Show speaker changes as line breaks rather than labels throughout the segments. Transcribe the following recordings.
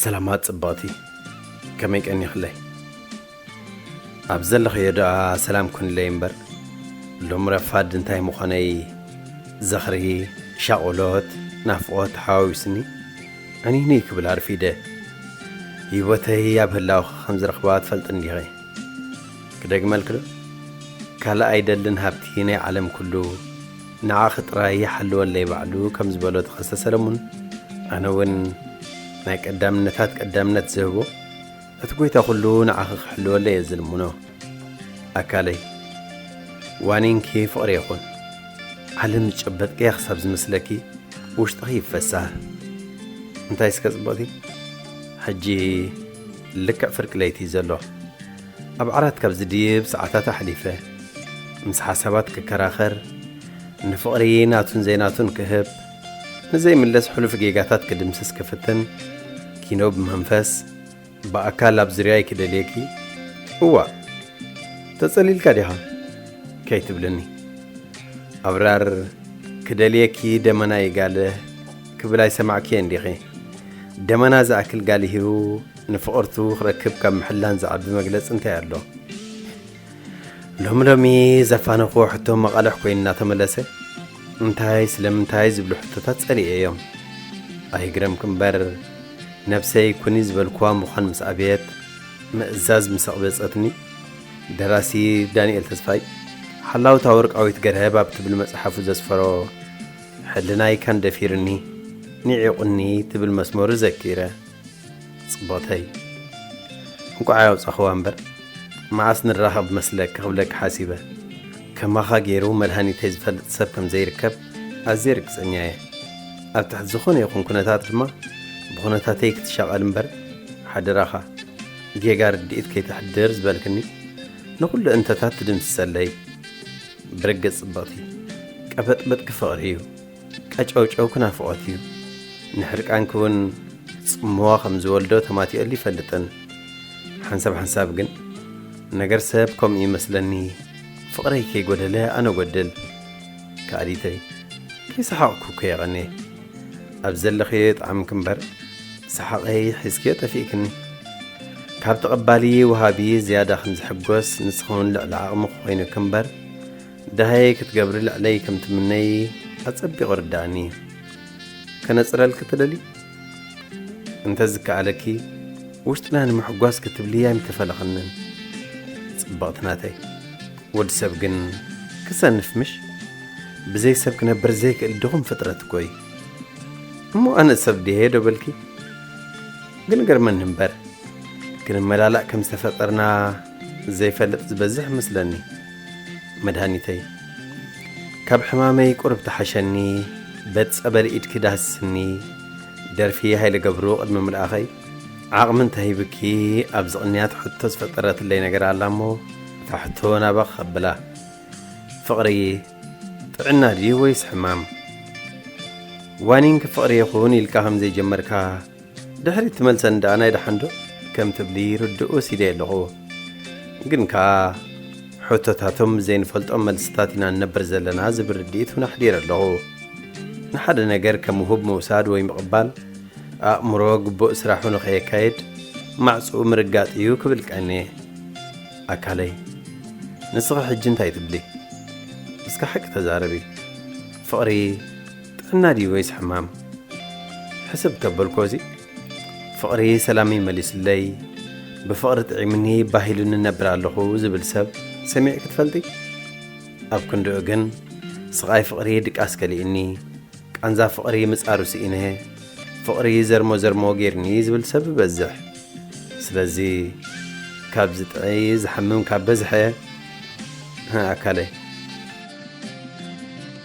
ሰላማት ጽብቕቲ ከመይ ቀኒኽለይ ኣብ ዘለኸዮ ደኣ ሰላም ኩንለይ እምበር ሎም ረፋድ እንታይ ምኾነይ ዝኽሪ ሻቑሎት ናፍቖት ተሓዋዊስኒ ዕኒኒ ክብል ኣርፊደ ህይወተይ ኣብ ህላውኺ ከም ዝረኽባ ትፈልጥ እንዲኺ ክደግመልክዶ ካልእ ኣይደልን ሃብቲ ናይ ዓለም ኩሉ ንዓኺ ጥራይ ይሓልወለይ ባዕሉ ከም ዝበሎ ተኸስተ ሰለሙን፣ ኣነ እውን ናይ ቀዳምነታት ቀዳምነት ዝህቦ እቲ ጐይታ ዅሉ ንዓኺ ክሕልወለይ እየ ዝልምኖ። ኣካለይ፣ ዋኒንኪ ፍቕሪ ይኹን። ዓለም ዝጨበጥክያ ክሳብ ዝመስለኪ ውሽጥኺ ይፈሳህ። እንታይስከ ጽብቕቲ፣ ሕጂ ልክዕ ፍርቂ ለይቲ እዩ ዘሎ። ኣብ ዓራት ካብ ዝድይብ ሰዓታት ኣሕሊፈ። ምስ ሓሳባት ክከራኸር፣ ንፍቕሪ ናቱን ዘይናቱን ክህብ፣ ንዘይምለስ ሕሉፍ ጌጋታት ክድምስስ ክፍትን፣ ኪኖ ብመንፈስ፣ ብኣካል ኣብ ዙርያይ ክደልየኪ፣ እዋእ! ተጸሊልካ ዲኻ? ከይትብልኒ። ኣብራር፣ ክደልየኪ ደመና ይጋልህ ክብል ኣይሰማዕክዮን ዲኺ? ደመና ዝኣክል ጋሊሁ ንፍቕርቱ ክረክብ ካብ ምሕላን ዝዓቢ መግለጺ እንታይ ኣሎ? ሎሚ ሎሚ ዘፋነኹዎ ሕቶ መቓልሕ ኮይኑ እናተመለሰ እንታይ ስለምንታይ ዝብሉ ሕቶታት ጸሊኤ እዮም። ኣይግረምክ እምበር ነብሰይ ኩኒ ዝበልኩዋ ምዃን ምስ ኣብየት ምእዛዝ ምስ ኣቕበጸትኒ ደራሲ ዳንኤል ተስፋይ ሓላውታ ወርቃዊት ገርሀብ ኣብ ትብል መጽሓፉ ዘስፈሮ ሕልናይ ካን ደፊርኒ ኒዒቑኒ ትብል መስመሩ ዘኪረ ጽብቕተይ እንቋዕ ኣውጻኽዋ እምበር መዓስ ንራኸብ መስለኪ ክብለኪ ሓሲበ ከማኻ ገይሩ መድሃኒተይ ዝፈልጥ ሰብ ከም ዘይርከብ ኣዝየ ርግጸኛ እየ ኣብ ትሕቲ ዝኾነ ይኹን ኩነታት ድማ ብኹነታተይ ክትሻቐል እምበር ሓደራኻ ጌጋ ርድኢት ከይተሕድር ዝበልክኒ ንኹሉ እንተታት ትድምስሰለይ ብርግጽ ጽብቕቲ ቀበጥበጥኪ ፍቕሪ እዩ ቀጨውጨው ክናፍቖት እዩ። ንሕርቃንኪ እውን ጽምዋ ከም ዝወልዶ ተማቲኦሉ ይፈልጥን። ሓንሳብ ሓንሳብ ግን ነገር ሰብ ከምኡ ይመስለኒ ፍቕረይ ከይጎደለ ኣነ ጎድል ከኣሊተይ ከይሰሓቕኩ እኮ የቐኔ ኣብ ዘለኽዮ የጥዓምኪ እምበር ሰሓቐይ ሒዝክዮ ጠፊእክኒ ካብ ተቐባሊ ወሃቢ ዝያዳ ከም ዝሕጎስ ንስኺ እውን ልዕሊ ዓቕሚ ክኮይኑኪ እምበር ደሃየይ ክትገብሪ ልዕለይ ከም ትምነዪ ኣጸቢቑ ርደኣኒ። ከነጽረልኪ ትደልዪ? እንተ ዝከኣለኪ ውሽጥና ንምሕጓስ ክትብሊ ኣይምተፈለኽንን ጽብቕቲ ናተይ። ወድ ሰብ ግን ክሰንፍ ምሽ? ብዘይ ሰብ ክነብር ዘይክእል ድኹም ፍጥረት እኮ'ዩ። እሞ ኣነ ሰብ ድየ ዶ በልኪ? ግን ገርመኒ እምበር ክንመላላእ ከም ዝተፈጠርና ዘይፈልጥ ዝበዝሕ መስለኒ መድሃኒተይ ካብ ሕማመይ ቁርብ ተሓሸኒ በት ጸበል ኢድኪ ዳህስስኒ ደርፊ ሃይለ ገብሩ ቅድሚ ምልኣኸይ ዓቕሚ እንተሂብኪ ኣብዚ ቅንያት ሕቶ ዝፈጠረትለይ ነገር ኣላ እሞ እታ ሕቶ ናባ ክኸብላ ፍቕሪ ጥዕና ድዩ ወይስ ሕማም ዋኒንኪ ፍቕሪ ይኹን ኢልካ ከም ዘይጀመርካ ድሕሪት ትመልሰኒ ደኣ ናይ ደሓንዶ ከም ትብሊ ርድኡ ሲደየ ኣለኹ ግን ከኣ ሕቶታቶም ዘይንፈልጦም መልስታት ኢና ንነብር ዘለና ዝብል ርድኢት እውን ኣሕዲረ ኣለኹ ንሓደ ነገር ከም ውሁብ ምውሳድ ወይ ምቕባል ኣእምሮ ግቡእ ስራሑ ንኸየካየድ ማዕፅኡ ምርጋጥ እዩ ክብል ቀኒ ኣካለይ ንስኺ ሕጂ እንታይ ትብሊ እስከ ሓቂ ተዛረቢ ፍቕሪ ጥዕና ድዩ ወይስ ሕማም ሕስብ ተበልኮ እዚ ፍቕሪ ሰላመይ መሊሱለይ ብፍቕሪ ጥዒሙኒ ባሂሉኒ ነብር ኣለኹ ዝብል ሰብ ሰሚዕ ክትፈልጢ ኣብ ክንድኡ ግን ስቓይ ፍቕሪ ድቃስ ከሊእኒ ቃንዛ ፍቕሪ ምጻሩ ስኢነ ፍቕሪ ዘርሞ ዘርሞ ጌርኒ ዝብል ሰብ ይበዝሕ ስለዚ ካብ ዝጥዒ ዝሓምም ካብ በዝሐ ኣካለይ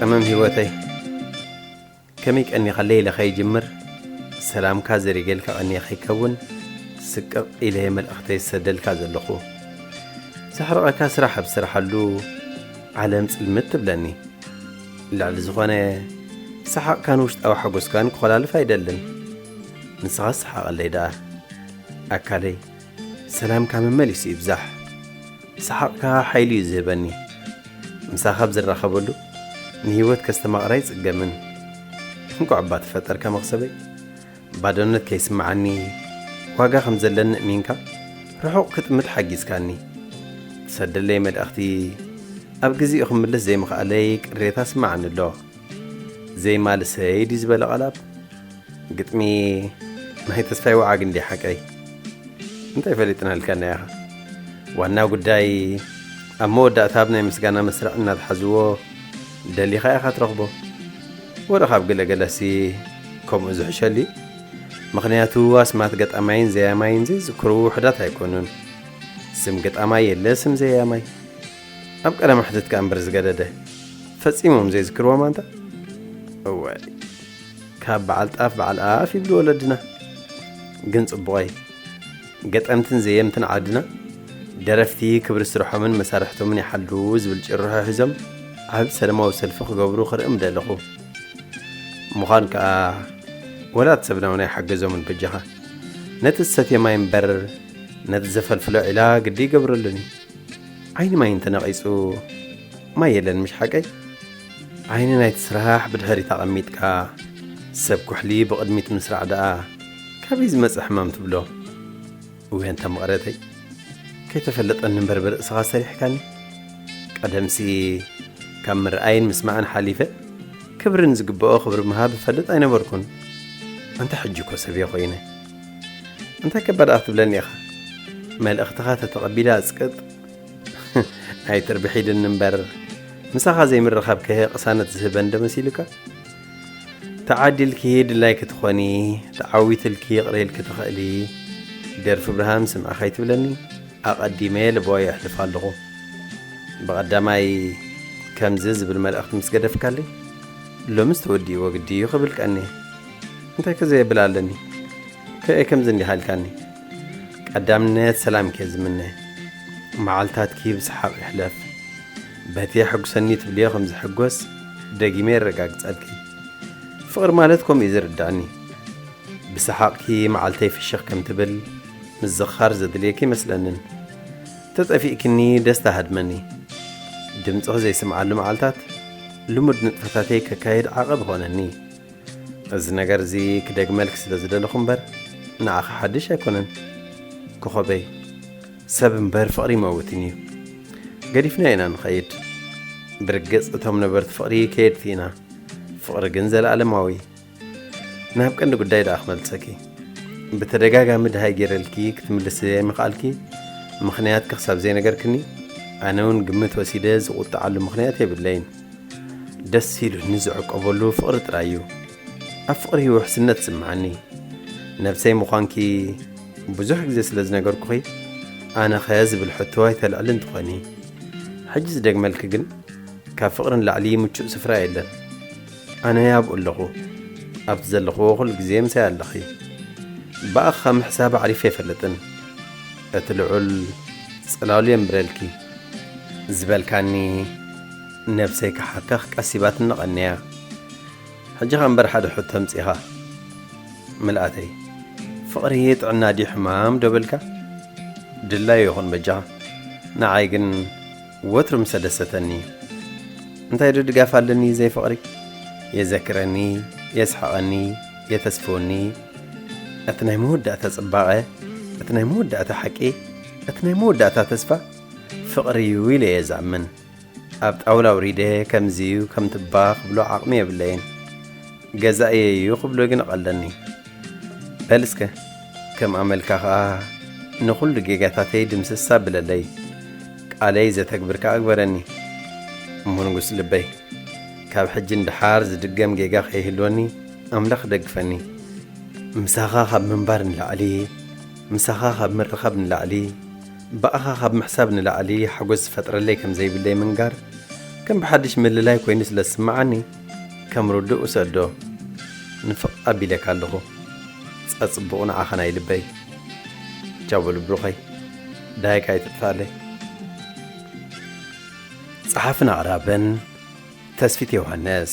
ቀመም ሂወተይ ከመይ ቀኒኻ ለይለ ከይጅምር ሰላምካ ዘሪገልካ ቀኒየ ከይከውን ስቅቕ ኢለየ መልእኽተይ ዝሰደልካ ዘለኹ ዘሕርቐካ ስራሕ ኣብ ስራሓሉ ዓለም ጽልምት ትብለኒ ልዕሊ ዝኾነ ሰሓቕካን ውሽጣዊ ሓጎስካን ክኾላልፍ ኣይደልን ንስኻስ ስሓቐለይ ደኣ ኣካለይ። ሰላምካ መመሊሱ ይብዛሕ። ሰሓቕካ ሓይሊ እዩ ዝህበኒ። ምሳኻ ኣብ ዝራኸበሉ ንህይወት ከስተማቕራ ኣይጽገምን። እንቋዕ እባ ተፈጠርካ መኽሰበይ። ባዶነት ከይስምዓኒ ዋጋ ከም ዘለኒ እሚንካ ርሑቕ ክጥምት ሓጊዝካኒ። ትሰደለይ መልእኽቲ ኣብ ግዜኡ ክምልስ ዘይምኽኣለይ ቅሬታ ስምዓኒ ኣሎ። ዜማ ልሰይ ድዩ ዝበለ ቐላብ ግጥሚ ናይ ተስፋይ ወዓግ እንዲ ሓቀይ እንታይ ፈሊጥናልካና ኢኻ ዋና ጉዳይ ኣብ መወዳእታ ኣብ ናይ ምስጋና መስርዕ እናትሓዝዎ ደሊኻ ኢኻ ትረኽቦ ወረ ካብ ገለገለሲ ከምኡ ዝሕሸሊ ምኽንያቱ ኣስማት ገጣማይን ዘያማይን ዘይዝክሩ ውሕዳት ኣይኮኑን ስም ገጣማይ የለ ስም ዘያማይ ኣብ ቀለ ማሕትትካ እምበር ዝገደደ ፈጺሞም ዘይዝክርዎም ኣንታ እወ ካብ በዓል ጣፍ በዓል ኣፍ ይብሉ ወለድና ግን ጽቡቐይ ገጠምትን ዘየምትን ዓድና ደረፍቲ ክብሪ ስርሖምን መሳርሕቶምን ይሓሉ ዝብል ጭርሖ ሒዞም ኣብ ሰለማዊ ሰልፊ ክገብሩ ክርኢ ምደለኹ ምዃን ከዓ ወላት ሰብና እውን ኣይሓገዞምን በጃኻ ነቲ ዝሰትየ ማይ እምበር ነቲ ዘፈልፍሎ ዒላ ግዲ ይገብረሉን እዩ ዓይኒ ማይ እንተነቒጹ ማይ የለን ምሽ ሓቀይ? ዓይኒ ናይቲ ስራሕ ብድሕሪት ኣቐሚጥካ ሰብ ኩሕሊ ብቕድሚት ምስራዕ ደኣ ካበይ ዝመጸ ሕማም ትብሎ? እወ ኣንታ መቐረተይ ከይተፈለጠኒ እምበር ብርእስኻ ሰሪሕካኒ። ቀደምሲ ካብ ምርኣይን ምስማዕን ሓሊፈ ክብሪ ንዝግበኦ ክብሪ ምሃብ እፈልጥ ኣይነበርኩን። ኣንታ ሕጂ እኮ ሰብ'የ ኮይነ። እንታይ ከ ባድኣ ክትብለኒ ኢኻ መልእኽትኻ ተተቐቢላ ኣጽቅጥ ኣይትርብሒድኒ እምበር ምሳኻ ዘይምርኻብ ከሄ ቅሳነት ዝህበን ዶ መሲሉካ ተዓዲልኪ ድላይ ክትኾኒ ተዓዊትልኪ ይቕረ ኢልኪ ትኽእሊ ደርፊ ብርሃን ስምዐ ከይትብለኒ ኣቐዲመ ልቦ የሕልፍ ኣለኹ ብቐዳማይ ከምዚ ዝብል መልእኽቲ ምስ ገደፍካለይ ሎምስ ተወዲእዎ ግዲ እዩ ክብል ቀኒ እንታይ ከ ዘየብል ኣለኒ ከእ ከምዚ እንዲኻ ኢልካኒ ቀዳምነት ሰላም ከ ዝምነ መዓልታትኪ ብሰሓቕ ይሕለፍ በቲ የሐጉሰኒ ትብልዮ ከም ዝሕጎስ ደጊመ የረጋግጸልኪ ፍቕሪ ማለት ከምኡ እዩ ዝርዳእኒ ብሰሓቕኪ መዓልተይ ፍሽኽ ከም ትብል ምዝኻር ዘድልየኪ ይመስለንን ተጠፊእክኒ ደስታ ሃድመኒ ድምፅኺ ዘይስምዓሉ መዓልታት ልሙድ ንጥፈታተይ ከካየድ ዓቐብ ኾነኒ እዚ ነገር እዚ ክደግመልኪ ስለ ዝደለኹ እምበር ንዓኺ ሓድሽ ኣይኮነን ኮኾበይ። ሰብ እምበር ፍቕሪ ይመውትን እዩ። ገዲፍናዮ ኢና ንኸይድ። ብርግጽ እቶም ነበርቲ ፍቕሪ ከየድቲ ኢና፣ ፍቕሪ ግን ዘለኣለማዊ እዩ። ናብ ቀንዲ ጉዳይ ደኣ ክመልሰኪ ብተደጋጋሚ ድሃይ ገይረልኪ ክትምልሲ ዘይምኽኣልኪ ምኽንያት ክሳብ ዘይነገርክኒ ኣነ እውን ግምት ወሲደ ዝቑጥዓሉ ምኽንያት የብለይን ደስ ኢሉኒ ዝዕቀበሉ ፍቕሪ ጥራይ እዩ ኣብ ፍቕሪ ውሕስነት ዝስምዓኒ ነብሰይ ምዃንኪ ብዙሕ ግዜ ስለ ዝነገርኩኺ ኣነኸ ዝብል ሕቶ ኣይተልዕልን ትኾኒ ሕጂ ዝደግመልኪ ግን ካብ ፍቕሪ ንላዕሊ ምቹእ ስፍራ የለን ኣነ ኣብኡ ኣለኹ ኣብቲ ዘለኹዎ ኩሉ ግዜ ምሳይ ኣለኺ ብኣኻ ምሕሳብ ኣዕሪፈ ኣይፈልጥን እቲ ልዑል ጽላሉ የንብረልኪ ዝበልካኒ ነብሰይ ክሓከኽ ቀሲባትኒ ቀንያ ሕጂኻ እምበር ሓደ ሕቶ ኣምጺኻ ምልኣተይ ፍቕሪ ጥዕና ድዩ ሕማም ዶ በልካ ድላዩ ይኹን በጃኻ ንዓይ ግን ወትሩ ምሰ ደሰተኒ እንታይ ዶ ድጋፍ ኣለኒ ዘይ ፍቕሪ የዘክረኒ የስሕቐኒ የተስፍወኒ እቲ ናይ መወዳእታ ጽባቐ እቲ ናይ መወዳእታ ሓቂ እቲ ናይ መወዳእታ ተስፋ ፍቕሪ እዩ ኢለ እየ ዝኣምን ኣብ ጣውላ ውሪደ ከምዚ እዩ ከምትባ ክብሎ ዓቕሚ የብለይን ገዛእየ እዩ ክብሎ ግን እቐለኒ በል እስከ ከም ኣመልካ ከኣ ንኹሉ ጌጋታተይ ድምስስ ኣብለለይ፣ ቃለይ ዘተግብር ከኣ ግበረኒ። እሞ ንጉስ ልበይ፣ ካብ ሕጂ ንደሓር ዝድገም ጌጋ ከይህልወኒ ኣምላኽ ደግፈኒ። ምሳኻ ካብ ምንባር ንላዕሊ፣ ምሳኻ ካብ ምርኻብ ንላዕሊ፣ ብኣኻ ካብ ምሕሳብ ንላዕሊ ሓጎስ ዝፈጥረለይ ከም ዘይብለይ ምንጋር ከም ብሓድሽ ምልላይ ኮይኑ ስለ ዝስምዓኒ፣ ከም ርዱእ ውሰዶ ንፍቅ ኣቢለካ ኣለኩ ጸጽቡቁ ንዓካ ናይ ልበይ ቻው በሉ ብሩከይ ዳይካ ኣይትጥፋኣለይ። ጸሓፍን ኣቕራብን ተስፊት ዮውሃንስ።